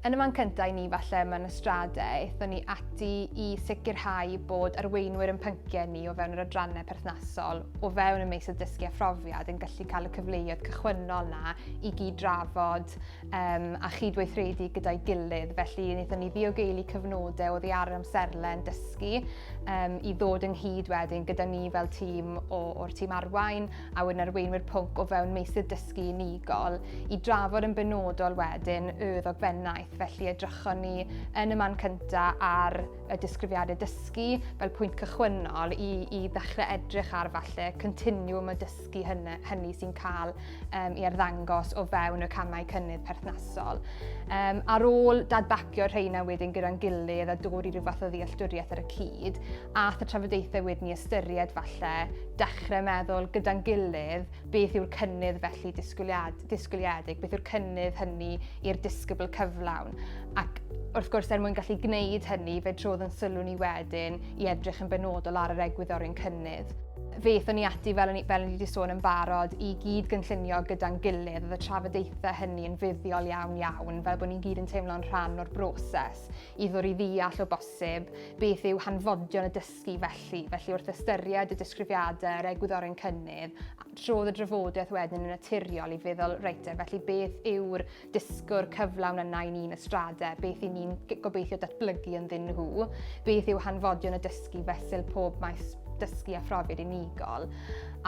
Yn y man cyntaf i ni falle mewn ystrade, aethon ni ati i sicrhau bod arweinwyr yn pynciau ni o fewn yr adrannau perthnasol o fewn y meysydd dysgu a phrofiad yn gallu cael y cyfleoedd cychwynnol na i gyd drafod um, a chydweithredu gyda'i gilydd. Felly, wnaethon ni ddiogeili cyfnodau o ddiar amserlen dysgu um, i ddod ynghyd wedyn gyda ni fel tîm o'r tîm arwain a wedyn arweinwyr pwnc o fewn meysydd dysgu unigol i drafod yn benodol wedyn y ddogfennaeth. Felly edrychon ni yn y man cynta ar y disgrifiadau dysgu fel pwynt cychwynnol i, i ddechrau edrych ar falle continwm y dysgu hynny, hynny sy'n cael um, i arddangos o fewn y camau cynnydd perthnasol. Um, ar ôl dadbacio'r rheina wedyn gyda'n gilydd a dod i rhyw fath o ddealltwriaeth ar y cyd, a y trafodaethau wedyn ni ystyried falle dechrau meddwl gyda'n gilydd beth yw'r cynnydd felly disgwyliad, disgwyliedig, beth yw'r cynnydd hynny i'r disgybl cyflawn. Ac wrth gwrs, er mwyn gallu gwneud hynny, fe trodd yn sylw ni wedyn i edrych yn benodol ar yr egwyddorion cynnydd. Fe ethon ni ati, fel ni, fel ni wedi sôn yn barod, i gyd gynllunio gyda'n gilydd. Oedd y trafodaethau hynny yn fuddiol iawn iawn, fel bod ni'n gyd yn teimlo'n rhan o'r broses i ddod i ddeall o bosib beth yw hanfodion y dysgu dysgu felly, felly wrth ystyried y disgrifiadau yr egwyddor yn cynnydd, trodd y drafodaeth wedyn yn naturiol i feddwl, reit, felly beth yw'r disgwr cyflawn yna i ni'n ystradau, beth i ni'n gobeithio datblygu yn ddyn nhw, beth yw hanfodion y dysgu fesul pob maes dysgu a phrofiad unigol.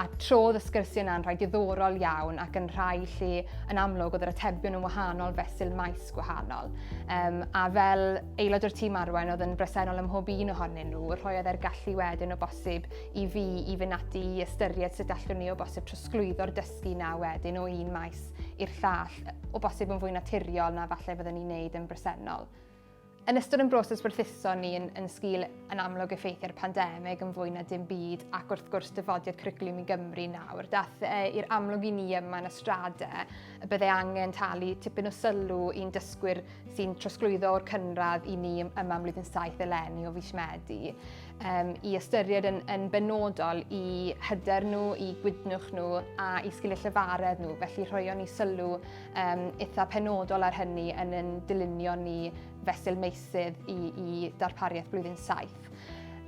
A trodd y sgyrsiau yna'n rhai diddorol iawn ac yn rhai lle yn amlwg oedd yr atebion yn wahanol fesul maes gwahanol. Um, a fel Aelod o'r tîm arwain oedd yn bresennol ym mhob un ohonyn nhw, rhoiodd e'r gallu wedyn o bosib i fi i fynd ati i ystyried sut allwn ni o bosib trosglwyddo'r dysgu 'na wedyn o un maes i'r llall, o bosib yn fwy naturiol na falle fyddwn ni'n neud yn bresennol. Yn ystod yn broses werthuso ni yn, yn sgil yn amlwg effeithiau'r pandemig yn fwy na dim byd ac wrth gwrs dyfodiad cwricwlwm i Gymru nawr, dath e i'r amlwg i ni yma yn y strade y byddai angen talu tipyn o sylw i'n dysgwyr sy'n trosglwyddo o'r cynradd i ni yma am flwyddyn 7 eleni o fis Medi, um, i ystyried yn, yn benodol i hyder nhw, i gwydnwch nhw a i sgiliau llyfaredd nhw, felly rhoion ni sylw um, eitha penodol ar hynny yn yn dylunio ni fesul meisydd i, i darpariaeth blwyddyn 7.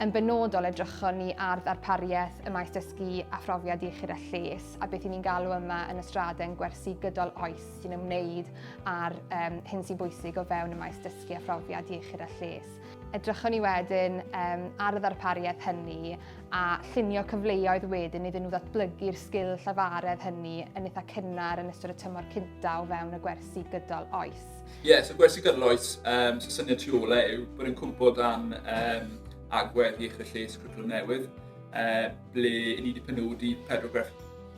Yn benodol edrychon ni ar ddarpariaeth y maes dysgu a phrofiad iechyd a lles a beth i ni'n galw yma yn y straden gwersi gydol oes sy'n ymwneud â'r um, hyn sy'n bwysig o fewn y maes dysgu a phrofiad iechyd a lles. Edrychon ni wedyn um, ar y ddarpariaeth hynny a llunio cyfleoedd wedyn iddyn nhw ddatblygu'r sgil llafaredd hynny yn eitha cynnar yn ystod y tymor cynta o fewn y gwersi gydol oes. Ie, yeah, so gwersi gydloes, um, so syniad tu ôl e yw bod yn cwmpo dan um, agwedd iechyd y lles cwricwlwm newydd, uh, ble i ni wedi penodi pedwar,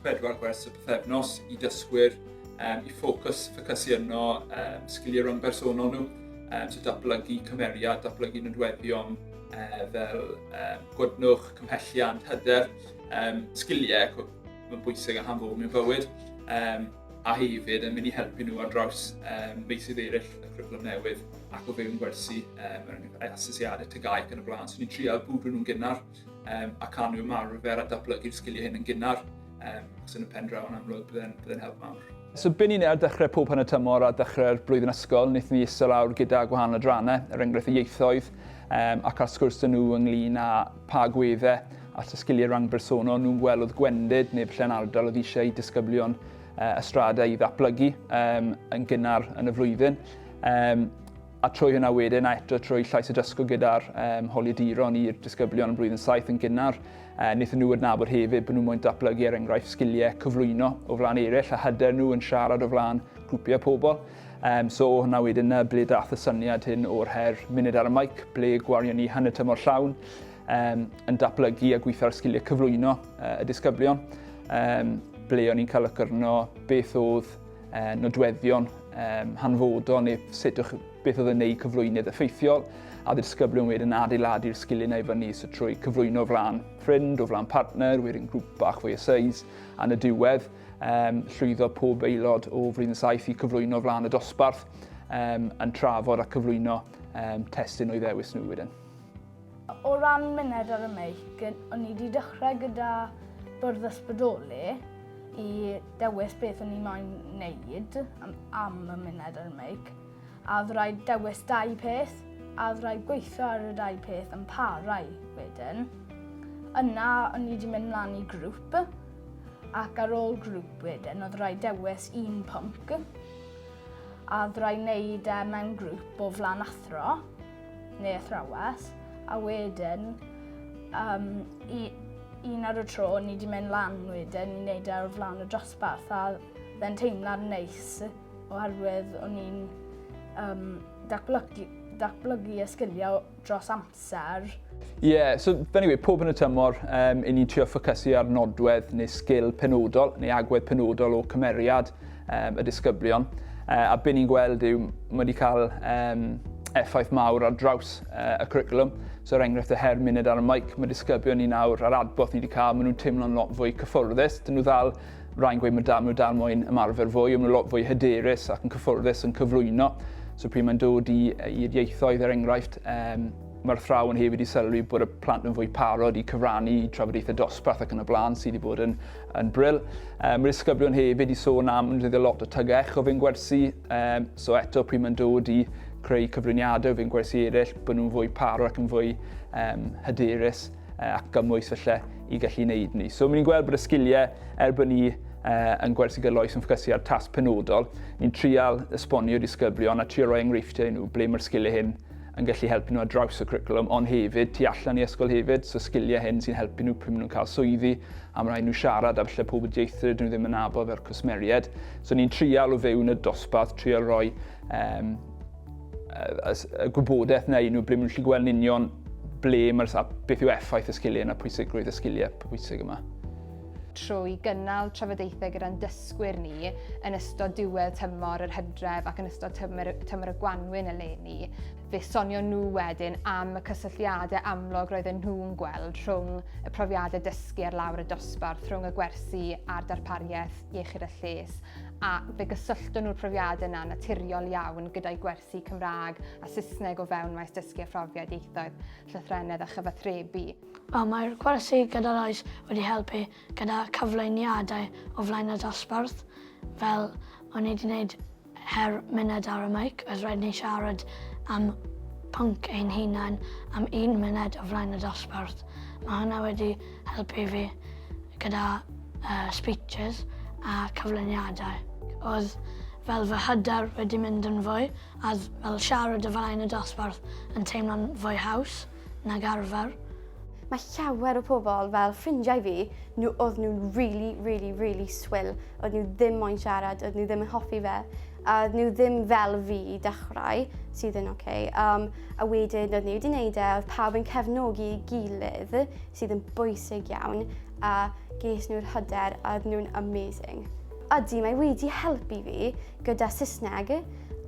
pedwar gwers y pethefnos i dysgwyr um, i ffocws, ffocysu yno um, sgiliau rhwng bersonol nhw, um, so datblygu cymeriad, datblygu nodweddion uh, fel um, gwadnwch, cymhelliant, hyder, um, sgiliau mae'n bwysig a hanfod mewn bywyd. Um, a hefyd yn mynd i helpu nhw ar draws um, meysydd eraill y cwricwlwm newydd ac o fewn gwersi um, er enghraifft asesiadau tygau ac yn y blaen. So ni'n trial bwrw nhw'n gynnar um, a can nhw ymarfer a datblygu'r sgiliau hyn yn gynnar. Um, ac yn y pen draw yn amlwg byddai'n bydde help mawr. So byn ni'n ar dechrau pob pan y tymor a dechrau'r blwyddyn ysgol, wnaethon ni isel awr gyda gwahanol adrannau, er enghraifft y ieithoedd, um, ac ar sgwrs dyn nhw ynglyn â pa agweddau at y sgiliau rhang bersonol nhw'n gweld oedd gwendid neu falle'n ardal oedd eisiau i disgyblion uh, ystrada i ddatblygu um, yn gynnar yn y flwyddyn. Um, a trwy hynna wedyn a eto trwy llais y dysgu gyda'r um, holiaduron i'r disgyblion yn blwyddyn saith yn gynnar, uh, wnaethon nhw adnabod hefyd bod nhw'n mwyn datblygu er enghraifft sgiliau cyflwyno o flaen eraill a hyder nhw yn siarad o flaen grwpiau pobl. Yym, so o hwnna wedyn 'na ble dath y syniad hyn o'r her munud ar y maic, ble gwarion ni hanner tymor llawn um, yn datblygu a gweithio ar sgiliau cyflwyno uh, y disgyblion, um, ble o'n i'n cael ycyrno beth oedd uh, nodweddion um, hanfodol neu sut o'ch, beth oedd yn neud cyflwynydd effeithiol, a dy disgyblion wedyn adeiladu'r sgiliau na i fyny so trwy cyflwyno flan ffrind o flan partner, wedyn grŵp bach fwy o seis, a yn y diwedd, Um, llwyddo pob aelod o Frin 7 i cyflwyno flaen y dosbarth um, yn trafod a cyflwyno um, testyn o'i ddewis nhw wedyn. O ran myned ar y meic, o'n i wedi dechrau gyda bwrdd ysbrydoli i dewis beth o'n i moyn wneud am, am y myned ar y meic. A oedd rhaid dewis dau peth, a oedd rhaid gweithio ar y dau peth yn parau wedyn. Yna, o'n i wedi mynd mlaen i grŵp, ac ar ôl grŵp wedyn oedd rhaid dewis un pwnc a oedd rhaid wneud e mewn grŵp o flan athro neu athrawes a wedyn um, i, un ar y tro ni wedi mynd lan wedyn i wneud e ar flan y dosbarth a fe'n teimlad neis oherwydd o'n i'n um, datblygu, datblygu y sgiliau dros amser. amser. Ie, yeah, so anyway, pob yn y tymor, um, i ni'n trio ffocysu ar nodwedd neu sgil penodol neu agwedd penodol o cymeriad um, y disgyblion. Uh, a beth ni'n gweld yw, mae wedi cael um, effaith mawr ar draws uh, y curriculum. So, er enghraifft, y her munud ar y mic, mae disgyblion ni nawr, a'r adborth ni wedi cael, maen nhw'n teimlo'n lot fwy cyffyrddus. Dyn nhw ddal Rai'n gweud mae dal, mae nhw dal moyn ymarfer fwy, ond mae lot fwy hyderus ac yn cyffyrddus yn cyflwyno. So pryd mae'n dod i, i'r ieithoedd, er enghraifft, um, mae'r athrawon hefyd wedi sylwi bod y plant yn fwy parod i cyfrannu i trafodaethau dosbarth ac yn y blaen sydd wedi bod yn, yn bril. Um, mae'r ysgyblion hefyd i sôn am yn dyddio lot o tygau echo fe'n gwersi, um, so eto pryd mae'n dod i creu cyfriniadau fe'n gwersi eraill, bod nhw'n fwy parod ac yn fwy um, hyderus. ac gymwys felly i gallu wneud ni. So, ni'n gweld bod y sgiliau er bod ni uh, yn gwersi gyda loes yn ffocysu ar tas penodol, ni'n trial esbonio disgyblion a trial roi enghreifftiau i nhw ble mae'r sgiliau hyn yn gallu helpu nhw ar draws y cwricwlwm, ond hefyd tu allan i ysgol hefyd, so sgiliau hyn sy'n helpu nhw pryd maen nhw'n cael swyddi, a mae'n rhaid nhw siarad a falle pobl dieithr dyn nhw ddim yn nabod fel cwsmeriaid. So ni'n trial o fewn y dosbarth, trial roi um, y gwybodaeth neu nhw ble maen nhw'n gallu gweld yn union ble mae'r a beth yw effaith y sgiliau yna, pwysigrwydd y sgiliau pwysig yma. Trwy gynnal trafodaethau gyda'n dysgwyr ni yn ystod diwedd tymor yr hydref ac yn ystod tymor, tymor y gwanwyn eleni, fe sonio nhw wedyn am y cysylltiadau amlwg roedden nhw'n gweld rhwng y profiadau dysgu ar lawr y dosbarth, rhwng y gwersi a'r darpariaeth iechyd a lles, a fe gysyllton nhw'r profiadau yna naturiol iawn gyda'i gwersi Cymraeg a Saesneg o fewn maes dysgu a phrofiad ieithoedd, llythrennedd a chyfathrebu. Wel, mae'r gwersi gyda'r oes wedi helpu gyda cyflwyniadau o flaen y dosbarth, fel o'n i wedi gwneud her munud ar y mic, oedd rhaid ni siarad am pwnc ein hunain am un munud o flaen y dosbarth. Mae hwnna wedi helpu fi gyda uh, speeches a cyflwyniadau. Oedd fel fy hyder wedi mynd yn fwy a fel siarad y flaen y dosbarth yn teimlo'n fwy haws nag arfer. Mae llawer o pobl fel ffrindiau fi, nhw oedd nhw'n really, really, really swill. Oedd nhw ddim moyn siarad, oedd nhw ddim yn hoffi fe. a oedd nhw ddim fel fi i dechrau, sydd yn oce. Um, a wedyn oedd nhw wedi gwneud e, oedd pawb yn cefnogi i gilydd, sydd yn bwysig iawn, a ges nhw'r hyder a oedd nhw'n amazing. Ydy, mae wedi helpu fi gyda Saesneg,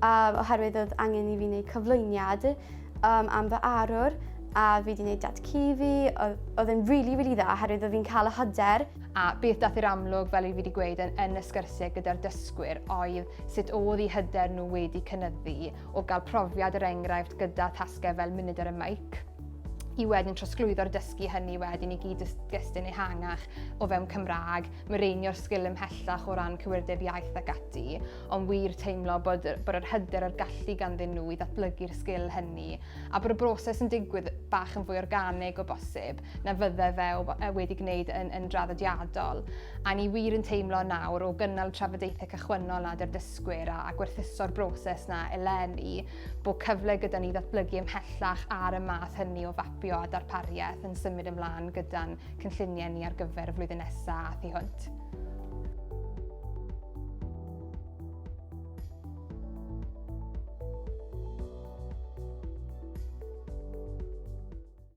um, oherwydd oedd angen i fi wneud cyflwyniad um, am fy arwr, a fi wedi gwneud dat cu fi, oedd yn rili, really, rili really dda, oherwydd oedd fi'n cael y hyder. A beth dath i'r amlwg, fel i fi wedi gweud, yn, yn y sgyrsiau gyda'r dysgwyr oedd sut oedd i hyder nhw wedi cynnyddu o gael profiad yr er enghraifft gyda thasgau fel munud ar y maic i wedyn trosglwyddo'r dysgu hynny wedyn i gyd gystyn ehangach o fewn Cymraeg, myreinio'r sgil ymhellach o ran cywirdeb iaith ac ati, ond wir teimlo bod, bod yr hyder a'r gallu ganddyn nhw i ddatblygu'r sgil hynny, a bod y broses yn digwydd bach yn fwy organig o bosib, na fydde fe e, wedi gwneud yn, yn draddodiadol. A ni wir yn teimlo nawr o gynnal trafodaethau cychwynnol nad yr dysgwyr a, a gwerthuso'r broses na eleni, bod cyfle gyda ni ddatblygu ymhellach ar y math hynny o fapio a darpariaeth yn symud ymlaen gyda'n cynlluniau ni ar gyfer y flwyddyn nesaf a thu hwnt.